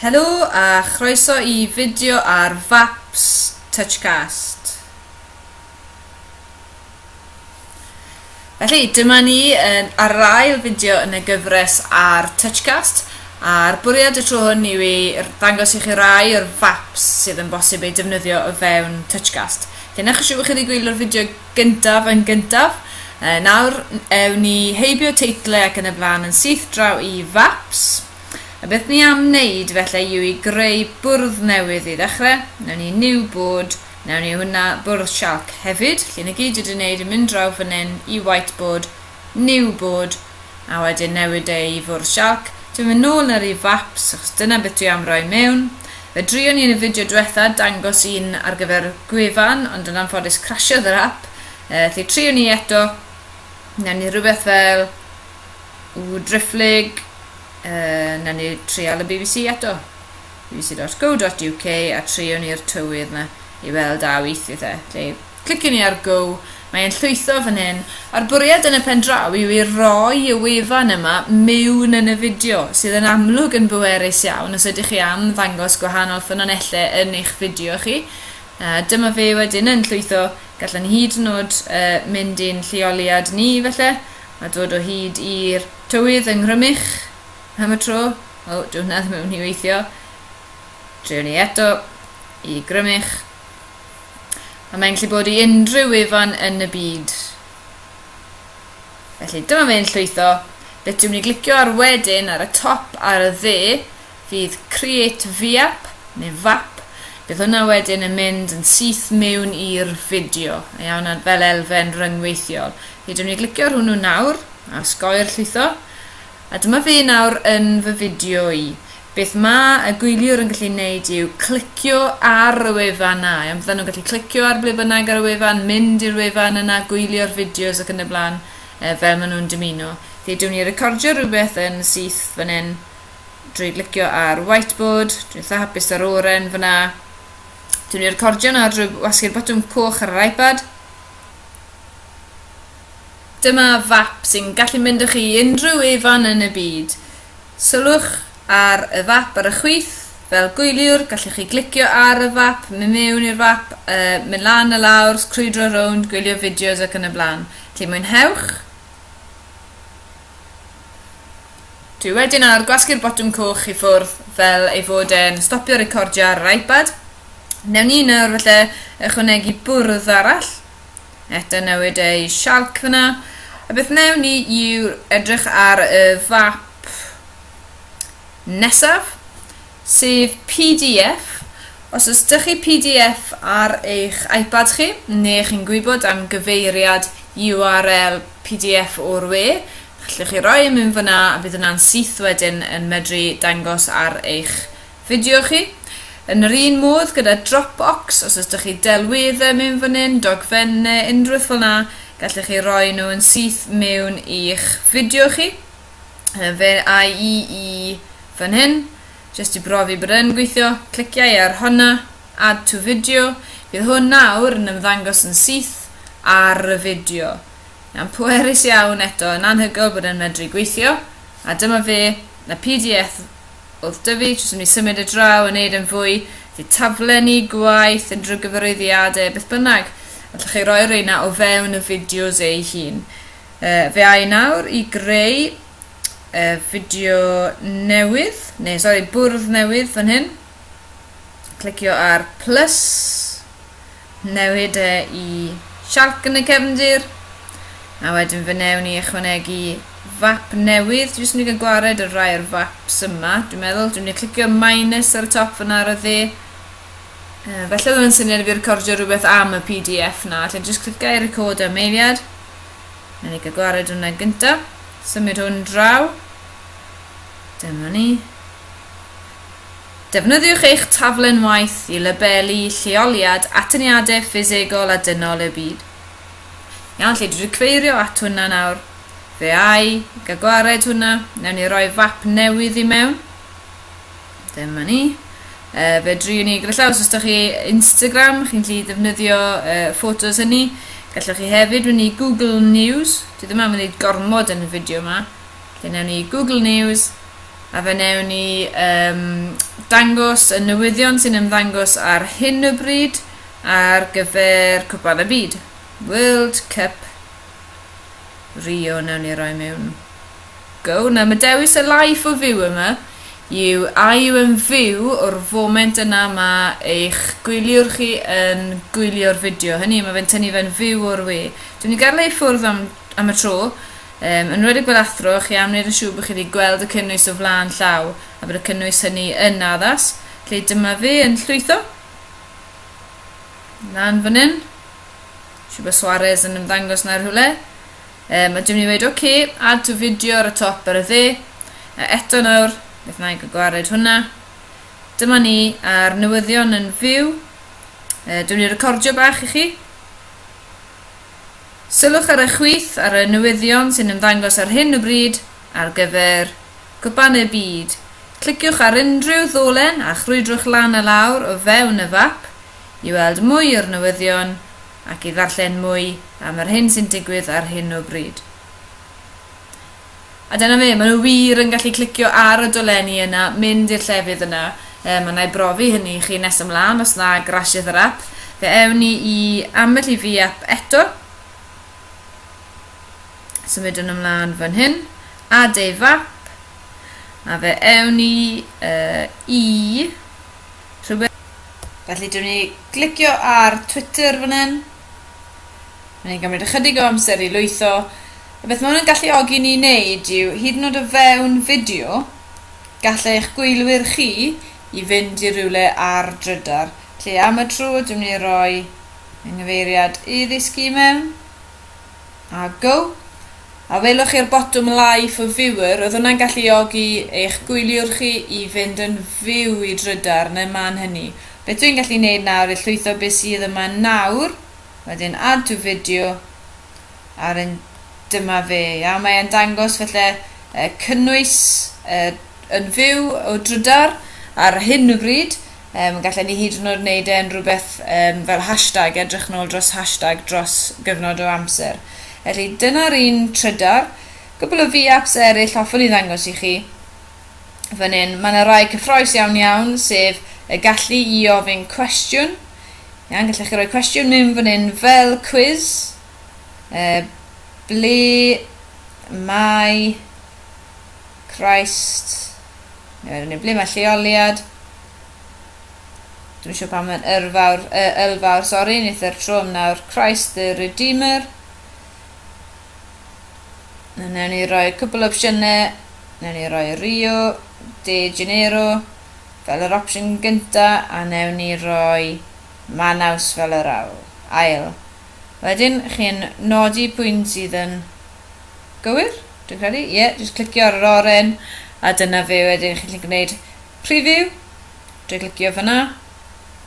Helo a chroeso i fideo ar Vaps Touchcast. Felly, dyma ni yn ar yr ail fideo yn y gyfres ar Touchcast, a'r bwriad y tro hwn yw i ddangos i chi rai o'r vaps sydd yn bosib eu defnyddio o fewn Touchcast. Felly, na chi siw chi wedi gwylio'r fideo Gyntaf yn gyntaf, yy nawr ewn ni heibio teitlau ac yn y blaen yn syth draw i Faps. A beth ni am wneud felly yw i greu bwrdd newydd i ddechrau, newn ni new board, newn ni hwnna bwrdd sialc hefyd, lle na gyd dwi wedi wneud yn mynd draw fan hyn i whiteboard new board, a wedyn newid e i fwrdd sialc, dwi'n mynd nôl yn yr un faps achos dyna beth dwi am roi mewn. Fe drion i yn y fideo diwetha dangos un ar gyfer gwefan ond yn anffodus crasiodd yr app, uh, felly trion i eto, newn ni rhywbeth fel ww drifflig, uh, newn ni trial y BBC eto, bbc.co.uk a trion ni'r tywydd yna i weld a weithio e. Cliciwn i ar Go, mae e'n llwytho fan hyn, a'r bwriad yn y pen draw yw i roi y wefan yma mewn yn y fideo, sydd yn amlwg yn bwerus iawn os ydych chi am ddangos gwahanol ffynonellau yn eich fideo chi. A dyma fe wedyn yn llwytho, gallan ni hyd yn oed uh, mynd i'n lleoliad ni felly, a dod o hyd i'r tywydd yng Nghrymych am y tro. O, dwi hwnna ddim yn mynd i weithio. Drewn ni eto i Grymych. A mae'n gallu bod i unrhyw wefan yn y byd. Felly dyma fe'n llwytho. Beth dwi'n mynd i glicio ar wedyn ar y top ar y dde fydd Create VAP neu VAP. Bydd hwnna wedyn yn mynd yn syth mewn i'r fideo. A iawn fel elfen ryngweithiol. Felly dwi'n mynd i glicio ar hwnnw nawr a sgoi'r llwytho. A dyma fi nawr yn fy fideo i. Beth mae y gwyliwr yn gallu neud yw clicio ar y wefan na. Iawn, byddan nhw'n gallu clicio ar ble bynnag ar y wefan, mynd i'r wefan yna, gwylio'r fideos ac yn y blaen, e, fel maen nhw'n dymuno. Felly, dwi'n ni recordio rhywbeth yn syth fan hyn drwy licio ar whiteboard, dwi'n eitha hapus ar oren fyna. Dwi'n ni recordio yna drwy wasgu'r botwm coch ar yr iPad. Dyma fap sy'n gallu mynd â chi i unrhyw ufan yn y byd. Sylwch ar y fap ar y chwith, fel gwyliwr, gallwch chi glicio ar y fap, mynd mewn i'r fap, mynd lan a lawr, crwydro rownd, gwylio fideos ac yn y blaen. Felly mwynhewch! Dwi wedi nawr gwasgu'r botwm coch i ffwrdd fel ei fod e'n stopio recordio ar yr iPad. Newn ni nawr felly ychwanegu bwrdd arall. Eto newid ei sialc fyna. A beth newn ni yw edrych ar y fap nesaf, sef PDF. Os oes dych chi PDF ar eich iPad chi, neu chi'n gwybod am gyfeiriad URL PDF o'r we, allwch chi roi yn mynd fyna a bydd yna'n syth wedyn yn medru dangos ar eich Fideo chi? Yn yr un modd gyda Dropbox, os ydych chi delweddau mewn fan hyn, dogfen neu unrhywbeth fel na, gallech chi roi nhw yn syth mewn i'ch fideo chi. Fe ai i i fan hyn, jyst i brofi bod yn gweithio, cliciau ar hwnna, add to video, bydd hwn nawr yn ymddangos yn syth ar y fideo. Yn pwerus iawn eto, yn anhygoel bod yn medru gweithio, a dyma fe, y PDF oedd Dyfi jyst yn mynd i symud y draw yn neud yn fwy fydd taflenni, gwaith, unrhyw gyfarwyddiadau, beth bynnag. Allwch chi roi reina o fewn y fideos ei hun. Uh, fe ai nawr i greu uh, fideo newydd, neu sori, bwrdd newydd fan hyn. Clicio ar plus, newid e i sialc yn y cefndir, a wedyn fe newn ni ychwanegu fap newydd, dwi'n mynd i gwared y rai o'r faps yma, dwi'n meddwl, dwi'n mynd i clicio minus ar y top fyna ar y dde, uh, felly oedd yn syniad i fi recordio rhywbeth am y PDF na, allai jyst clicio i record am eiliad, Mae'n ei gwared hwnna gyntaf, symud hwn draw, dyma ni, Defnyddiwch eich taflen waith i labelu lleoliad atyniadau ffisegol a dynol y byd. Iawn, lle dwi wedi cyfeirio at hwnna nawr. Fe ai ga gwared hwnna. Newn ni roi fap newydd i mewn. Dyma ni. Uh, fe dri ni gyda llaw, os ydych chi Instagram, chi'n lli defnyddio uh, ffotos hynny. Gallwch chi hefyd fynd i Google News. Dwi ddim am wneud gormod yn y fideo yma. Felly newn ni Google News a fe newn ni um, dangos y newyddion sy'n ymddangos ar hyn o bryd ar gyfer Cwpan y Byd. World Cup Rio newn ni roi mewn go. Na, mae dewis y life o fyw yma yw a yw yn fyw o'r foment yna mae eich gwyliwr chi yn gwylio'r fideo hynny, mae fe'n tynnu fe'n fyw o'r we. Dwi'n ni gael ei ffwrdd am am y tro, yn enwedig fel athro, chi am wneud yn siŵr bod chi wedi gweld y cynnwys o flaen llaw a bod y cynnwys hynny yn addas. Felly dyma fi yn llwytho. Lan fan hyn. Siw bod Suarez yn ymddangos na rhywle. Um, a dwi'n mynd i wedi, oce, okay, add to video ar y top ar y dde. A eto nawr, beth na i gwared hwnna. Dyma ni a'r newyddion yn fyw. Uh, dwi'n mynd i recordio bach i chi. Sylwch ar y chwith ar y newyddion sy'n ymddangos ar hyn o bryd ar gyfer Cwpan y Byd. Cliciwch ar unrhyw ddolen a chrwydrwch lan a lawr o fewn y fap i weld mwy o'r newyddion ac i ddarllen mwy am yr hyn sy'n digwydd ar hyn o bryd. A dyna fe, maen nhw wir yn gallu clicio ar y dolenni yna, mynd i'r llefydd yna. Um, a na i brofi hynny i chi nes ymlaen os na grashes yr app. Fe ewn ni i ambell i fi app eto. Symudwn ymlaen fan hyn. A dei fap. A fe ewn ni uh, i rhywbeth. Felly, dyn ni glicio ar Twitter fan hyn. Mae'n ein gymryd ychydig o amser i lwytho. A beth mae hwn yn galluogi ni i wneud yw, hyd yn oed o fewn fideo, gall eich gwylwyr chi i fynd i rywle ar drydar, lle am y tro dwi'n mynd i roi yng nghyfeiriad i ddisg i mewn, a go. A welwch chi'r botwm Live for Viewer, oedd hwnna'n galluogi eich gwyliwr chi i fynd yn fyw i drydar yn y man hynny. Beth dwi'n gallu wneud nawr yw llwytho beth sydd yma nawr, Wedyn add to video a wedyn dyma fe. Iawn, mae e'n dangos felly uh, cynnwys uh, yn fyw o drydar ar hyn o bryd. Um, gallen ni hyd yn oed wneud e'n rhywbeth um, fel hashtag, edrych nôl dros hashtag dros gyfnod o amser. Felly dyna'r un trydar. Gwbl o fi apps eraill hoffwn i ddangos i chi. fan hyn. Mae yna rai cyffroes iawn iawn, sef y gallu i ofyn cwestiwn. Iawn, gallech chi roi cwestiwn mewn fan hyn fel quiz. E, ble mae Christ? Neu ble mae lleoliad? Dwi'n siŵr pam mae'n yrfawr, uh, ylfawr, sori, nid yr tro nawr. Christ the Redeemer. Newn ni roi cwpl opsiyne. Newn ni roi Rio de Janeiro fel yr opsiwn gynta a newn ni roi Manaus fel yr awl, ail. Wedyn chi'n nodi pwynt sydd yn gywir, dwi'n credu. Ie, yeah, jyst clicio ar yr oren a dyna fe wedyn chi'n gallu gwneud preview. Dwi'n clicio fyna.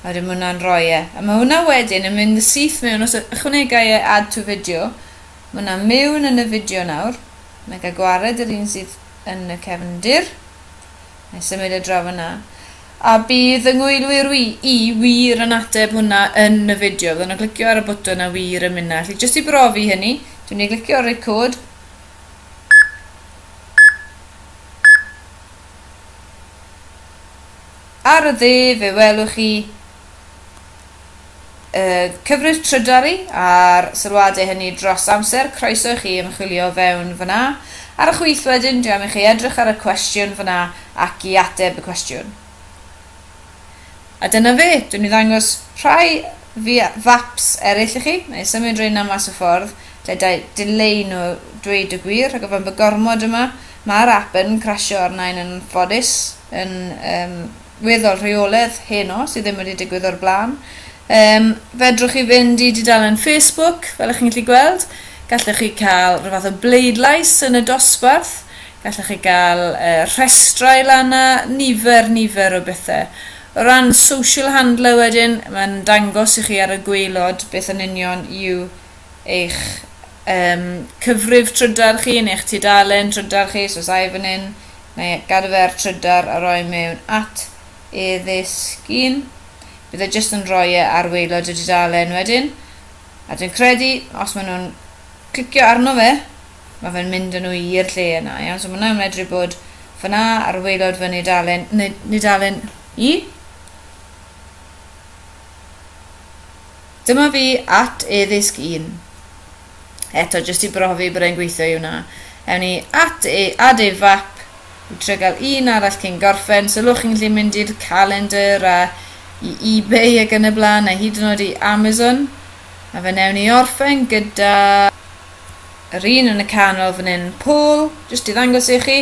A wedyn mae hwnna'n rhoi e. A mae hwnna wedyn yn mynd syth mewn os ychwanegai e add to video Ma na mewn yn y fideo nawr. Nai ga gwared yr un sydd yn y cefndir. Nai symud e draw fynna. A bydd y ngwylwyr wi i wir yn ateb hwnna yn y fideo. Fydden nhw'n clicio ar y bwtwn a wir yn mynna. Felly jyst i brofi hynny, dwi'n ei glicio ar record. Ar y dde fe welwch chi y cyfres trydar i, a'r sylwadau hynny dros amser, croeso i chi ymchwilio fewn fan'na. Ar y chwith wedyn, dwi am i chi edrych ar y cwestiwn fan'na ac i ateb y cwestiwn. A dyna fe, dwi'n i ddangos rhai faps eraill i chi, neu symud rhain am mas y ffordd, lle dau dileu nhw dweud y gwir, rhag ofn bod gormod yma, mae'r app yn crasio arna i'n anffodus, yn um, weddol rheoledd heno, sydd ddim wedi digwydd o'r blaen. Um, fedrwch chi fynd i dudalen Facebook, fel ych chi'n gallu gweld. Gallwch chi cael rhywbeth o bleidlais yn y dosbarth. Gallwch chi gael uh, rhestrau lan a nifer, nifer o bethau. O ran social handler wedyn, mae'n dangos i chi ar y gweilod beth yn union yw eich um, cyfrif trydar chi neu eich tudalen trydar chi, so os ai fan hyn, Mae gada fe ar trydar a roi mewn at e ddisgyn. Bydd e jyst yn roi e ar waelod y dudalen wedyn. A dwi'n credu, os maen nhw'n clicio arno fe, mae fe'n mynd â nhw i'r lle yna. Iawn, so mae hwnna'n medru bod fyna ar waelod fy nudalen, nudalen i. Dyma fi at e ddisg un. eto jyst i brofi bod e'n gweithio i hwnna. Ewn ni at e, add e fap, i trio gael un arall cyn gorffen. Sylwch chi'n gallu mynd i'r calendar a i eBay ac yn y blaen a hyd yn oed i Amazon. A fe newn ni orffen gyda yr un yn y canol fan hyn, Paul, jyst i ddangos i chi.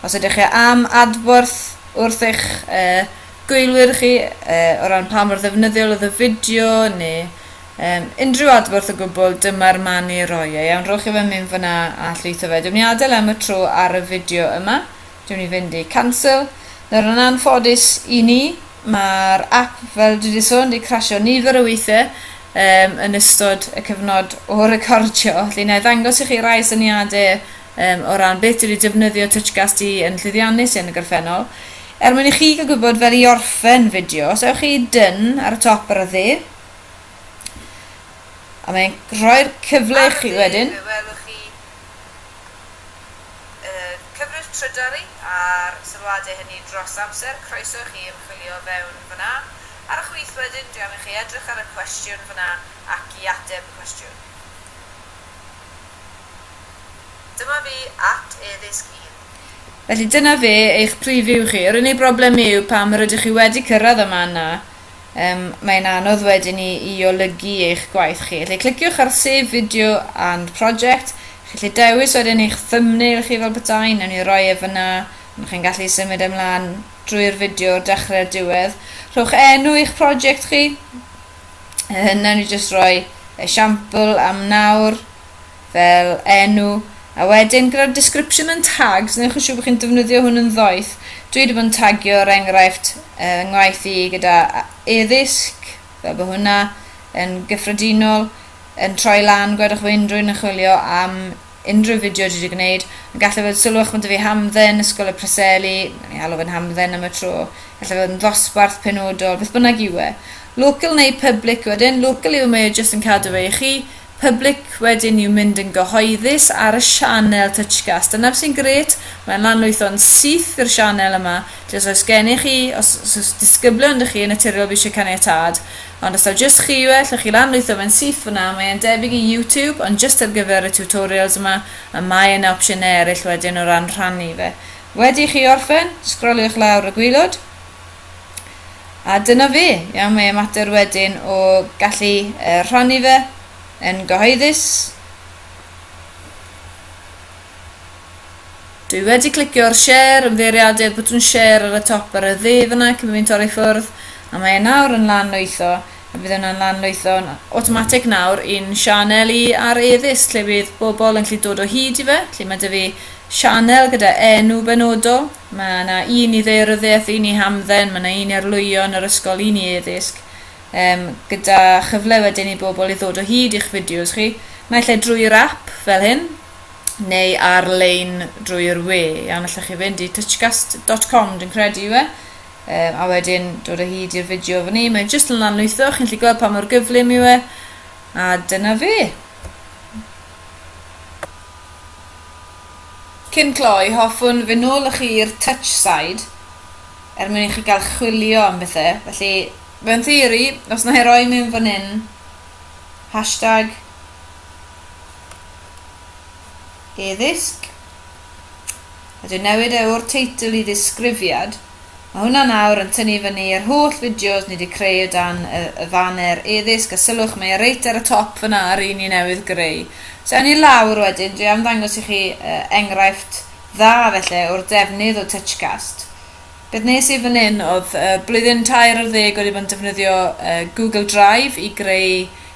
Os ydych chi am adborth wrth eich uh, gwylwyr chi uh, o ran pa mor ddefnyddiol oedd y fideo neu Yym, unrhyw adborth o gwbl, dyma'r man i roi e. Iawn, rhowch i fe mynd fan'na a llwytho fe. Dwi myn' i adel e am y tro ar y fideo yma. Dwi myn' i fynd i cancel. Nawr yn anffodus i ni, ma'r ap, fel dwi 'di sôn, 'di crasio nifer o weithie yym yn ystod y cyfnod o recordio. Felly nâi ddangos i chi rai syniade yym o ran beth dwi 'di defnyddio TouchCast i yn llwyddiannus i yn y gorffennol. Er mwyn i chi ga'l gwybod fel i orffen fideo, os ewch chi i Done ar y top ar y dde, A mae'n rhoi'r cyfle i chi wedyn. Fe welwch chi uh, cyfrif trydari a'r sylwadau hynny dros amser. Croeso i chi ymchwilio fewn fyna. Ar y chwith wedyn, dwi am i chi edrych ar y cwestiwn fyna ac i ateb y cwestiwn. Dyma fi at e-ddisg un. Felly dyna fe, eich preview chi. Yr unig broblem yw pam rydych chi wedi cyrraedd yma yna. Yym, mae'n anodd wedyn ni i olygu eich gwaith chi. Felly cliciwch ar Save Video and Project. Chi'n gallu dewis wedyn eich thumbnail chi fel petai, newn ni roi e fyna, ond chi'n gallu symud e mlaen drwy'r fideo o'r dechrau i'r diwedd. Rhowch enw i'ch project chi. Yy, newn ni jyst roi esiampl am nawr. fel enw a wedyn gyda'r description yn tags newch yn siŵr bod chi'n defnyddio hwn yn ddoeth dwi wedi bod yn tagio er enghraifft uh, ngwaith i gyda eddysg fel bod hwnna yn gyffredinol yn troi lan gwedwch fo unrhyw un yn chwilio am unrhyw fideo dwi wedi gwneud yn gallu fod sylwch bod fi hamdden ysgol y preseli ni alw fe'n hamdden am y tro gallu fod yn ddosbarth penodol beth bynnag yw e local neu public wedyn local yw mae e jyst yn cadw fe i chi Public wedyn yw mynd yn gyhoeddus ar y sianel Touchcast. Dyna sy'n grêt, mae'n lanlwytho'n syth i'r sianel yma. Felly os oes gennych chi, os oes disgyblion dych chi yn naturiol fi eisiau caniatâd, ond os taw jyst chi yw e, allwch chi lanlwytho fe'n syth fyna, mae e'n debyg i YouTube, ond jyst ar gyfer y tutorials yma, a mae yna opsiynau eraill wedyn o ran rhannu fe. Wedi i chi orffen, sgroliwch lawr y gwaelod, A dyna fi. Iawn, mae mater wedyn o gallu uh, rhannu fe yn gyhoeddus. Dwi wedi clicio'r share, ymddeiriadur, bwtwn share ar y top ar y dde fyna cyn bod fi'n torri ffwrdd, a mae e nawr yn lan lwytho, a bydd yna'n lan lwytho'n automatic nawr i'n sianel i ar eddys, lle bydd bobl yn gallu dod o hyd i fe, lle mae dy fi sianel gyda enw benodol, Mae yna un i ddaearyddiaeth, un i hamdden, mae yna un i arlwyo yn yr ysgol, un i eddysg, um, gyda chyfle wedyn i bobl i ddod o hyd i'ch fideos chi, naill ai drwy'r app fel hyn, neu ar-lein drwy'r we. Iawn, allwch chi fynd i touchcast.com, dwi'n credu yw e, um, a wedyn dod o hyd i'r fideo fan ni. Mae'n jyst yn lanlwytho, chi'n lli gweld pa mor gyflym yw e, a dyna fe. Cyn cloi, hoffwn fy nôl chi i'r Touch Side er mwyn i chi gael chwilio am bethe, felly mewn theori, os na i roi mewn fan hyn, hashtag e-ddisg, a dwi'n newid e o'r teitl i ddisgrifiad, Ma hwnna nawr yn tynnu fyny yr holl fideos ni di creu o dan y, y faner eddysg a sylwch mae e reit ar y top fyna ar un ni newydd greu. So ewn ni lawr wedyn, dwi am ddangos i chi uh, enghraifft dda felly o'r defnydd o Touchcast. Beth nes i fan hyn oedd uh, blwyddyn tair ar ddeg wedi bod yn defnyddio uh, Google Drive i greu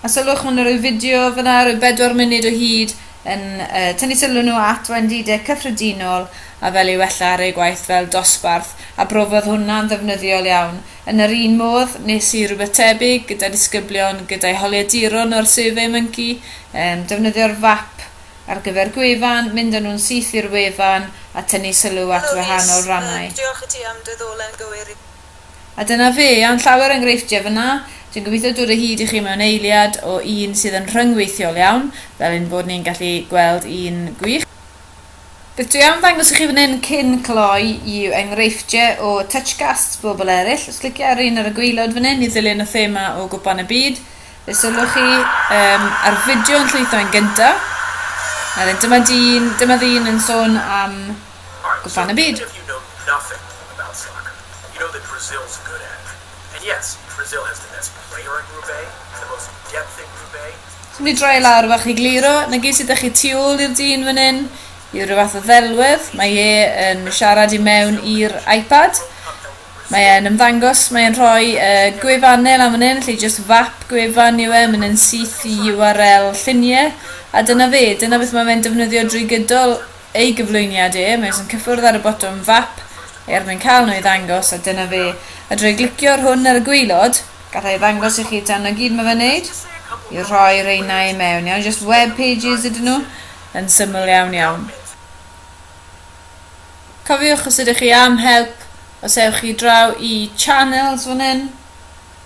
A sylwch, maen nhw'n rhoi fideo fyna, rhoi bedwar munud o hyd, yn uh, tynnu sylw nhw at wendidau cyffredinol a fel i wella ar eu gwaith fel dosbarth, a brofodd hwnna'n ddefnyddiol iawn. Yn yr un modd, nes i rhywbeth tebyg gyda disgyblion, gyda'i holiaduron o'r Survey Monkey, um, defnyddio'r fap ar gyfer gwefan, mynd â nhw'n syth i'r wefan a tynnu sylw at wahanol rannau. Diolch i ti am dy ddolen gywir i. A dyna fe, iawn llawer enghreifftiau fyna, dwi'n gobeithio dod o hyd i chi mewn eiliad o un sydd yn rhyngweithiol iawn, fel ein bod ni'n gallu gweld un gwych. Beth dwi am ddangos i chi fan hyn cyn cloi yw enghreifftiau o Touchcasts bobl eraill, os cliciau ar un ar y gwaelod fan hyn i ddilyn y thema o Gwpan y Byd, fe sylwch chi um, ar fideo yn llwytho yn gyntaf, a dyma dyn, dyma ddyn yn sôn am Gwpan y Byd. Swn i droi lawr fach i gliro, nagys ydych chi tu ôl i'r dyn fan hyn, yw rhyw fath o ddelwedd, mae e yn siarad i mewn i'r iPad, mae e'n ymddangos, mae e'n rhoi uh, gwefannau lan fan hyn, lle just fap gwefan yw e, mae'n syth i URL lluniau, a dyna fe, dyna beth mae fe'n defnyddio drwy gydol ei gyflwyniad e, mae jyst yn cyffwrdd ar y botwm fap er mwyn cael nhw i ddangos a dyna fe. A drwy glicio ar hwn ar y gwaelod, galla i ddangos i chi dan 'na gyd mae fe'n neud yw rhoi reina i mewn iawn, jyst web pages ydyn nhw, yn syml iawn iawn. Cofiwch os ydych chi am help, os ewch chi draw i channels fan hyn,